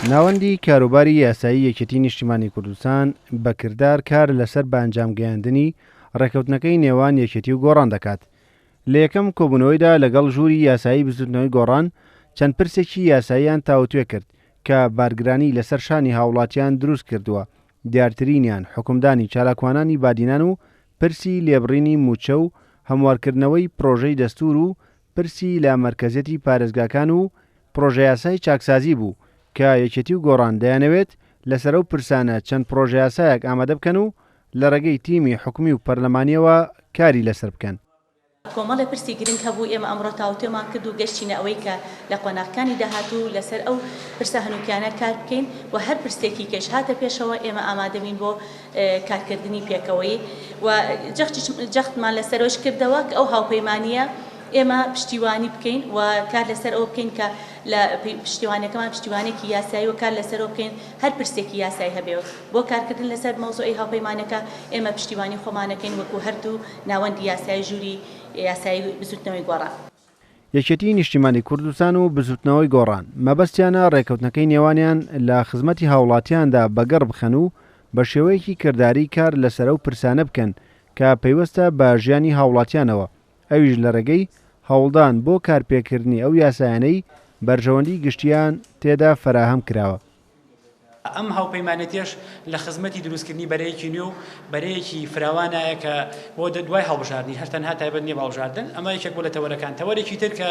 ناوەندی کاروباری یاسایی یەکێتی نیشتیمانی کوردستان بە کردار کار لەسەر بە ئەنجام گەیاندنی ڕێکەوتنەکەی نێوان یەکێتی و گۆڕان دەکات. لە یەکەم کۆبوونەوەیدا لەگەڵ ژووری یاسایی بزوتنەوەی گۆڕان چەند پرسێکی یاساییان تاوتوێ کرد کە بارگرانی لەسەر شانی هاوڵاتیان دروست کردووە دیارترینیان حوکمدانی چالاکوانانی بادینان و پرسی لێبڕینی مووچە و هەموارکردنەوەی پرۆژەی دەستوور و پرسی لە مەرکەزیەتی پارێزگاکان و پڕۆژەیاسای چاکسازی بوو کە یەکێتی و گۆڕان دەیانەوێت لەسەر ئەو پرسانە چەند پڕۆژەیاسایەک ئامادە بکەن و لە ڕێگەی تیمی حکومی و پەرلەمانیەوە کاری لەسەر بکەن. کۆمەڵێ پرسی گرنگ هەبوو ئێمە ئەمڕۆ تاوتوێمان کرد و گەشتینە ئەوەی کە لە قۆناغکانی داهاتوو لەسەر ئەو پرسە هەنووکیانە کار بکەین و هەر پرسێکی کەش هاتە پێشەوە ئێمە ئامادەبین بۆ کارکردنی پێکەوەیی و جەختمان لەسەرەوەش کردەوە کە ئەو هاوپەیمانییە ئێمە پشتیوانی بکەین و کار لەسەر ئەوە بکەین کە لە پشتیوانەکەمان پشتیوانێکی یاسایی و کار لەسەرەوە بکەین هەر پرسێکی یاسایی هەبێ بۆ کارکردن لەسەر مەوزوعی هاوپەیمانەکە ئێمە پشتیوانی خۆمانەکەین وەکو هەردوو ناوەندی یاسایی ژووری یاسایی بزوتنەوەی گۆڕان. یەکێتیی نیشتیمانی کوردستان و بزووتنەوەی گۆڕان، مەبەستیانە رێککەوتنەکەی نێوانیان لە خزمەتی هاوڵاتیاندا بەگەڕ بخەن و بە شێوەیەکی کرداری کار لەسەر ئەو پرسانە بکەن کە پەیوەستە بە ژیانی هاوڵاتیانەوە، ئەویش لە رێگەی هەوڵدان بۆ کارپێکردنی ئەو یاسایانەی بەرژەوەندیی گشتییان تێدا فەراهەم کراوە. ئەم هاوپەیمانێتیەش لە خزمەتی دروستکردنی بەرەیەکی نوێ و بەرەیەکی فراوانایە کە بۆ دوای هەڵبژاردنی هەر تەنها تایبەت نیە بە هەڵبژاردن ئەمە یەکێک بۆ لە تەوەرەکان تەوەرێکی تر کە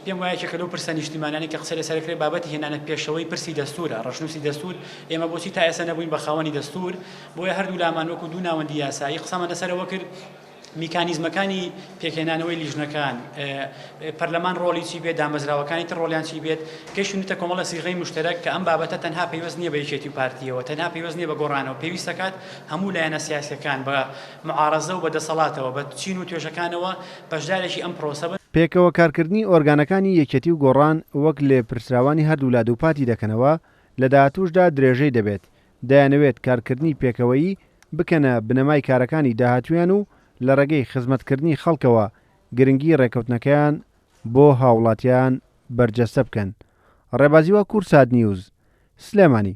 پێم وایە کە لەو پرسە نیشتیمانانی کە قسە لەسەر کرێ بابەتی هێنانە پێشەوەی پرسی دەستورە ڕەشنووسی دەستور ئێمە بۆچی تا ئێستا نەبووین بە خاوەنی دەستور بۆیە هەردوو لامان وەکو دوو ناوەندی یاسایی قسەمان لەسەرەوە کرد میکانیزمەکانی پێکهێنانەوەی لیژنەکان، پەرلەمان ڕۆڵی چی بێت، دامەزراوەکانی تر ڕۆڵیان چی بێت، گەیشتونەتە کۆمەڵە سیغەی موشتەرەک کە ئەم بابەتە تەنها پەیوەست نیە بە یەکێتی و پارتیەوە، تەنها پەیوەست نیە بە گۆڕانەوە، پێویست دەکات هەموو لایەنە سیاسیەکان بە معارەزە و بە دەسەڵاتەوە، بە چین و توێژەکانەوە بەشدارێکی ئەم پرۆسە بن. پێکەوە کارکردنی ئۆرگانەکانی یەکێتی و گۆڕان وەک لێپرسراوانی هەردوولا دووپاتی دەکەنەوە، لە داهاتووشدا درێژەی دەبێت دەیانەوێت کارکردنی پێکەوەیی بکەنە بنەمای کارەکانی داهاتوویان و لە ڕێگەی خزمەتکردنی خەڵکەوە گرنگی ڕێکەوتنەکەیان بۆ هاوڵاتیان بەرجەستە بکەن ڕێبازی واکوور سات نیوز سلێمانی.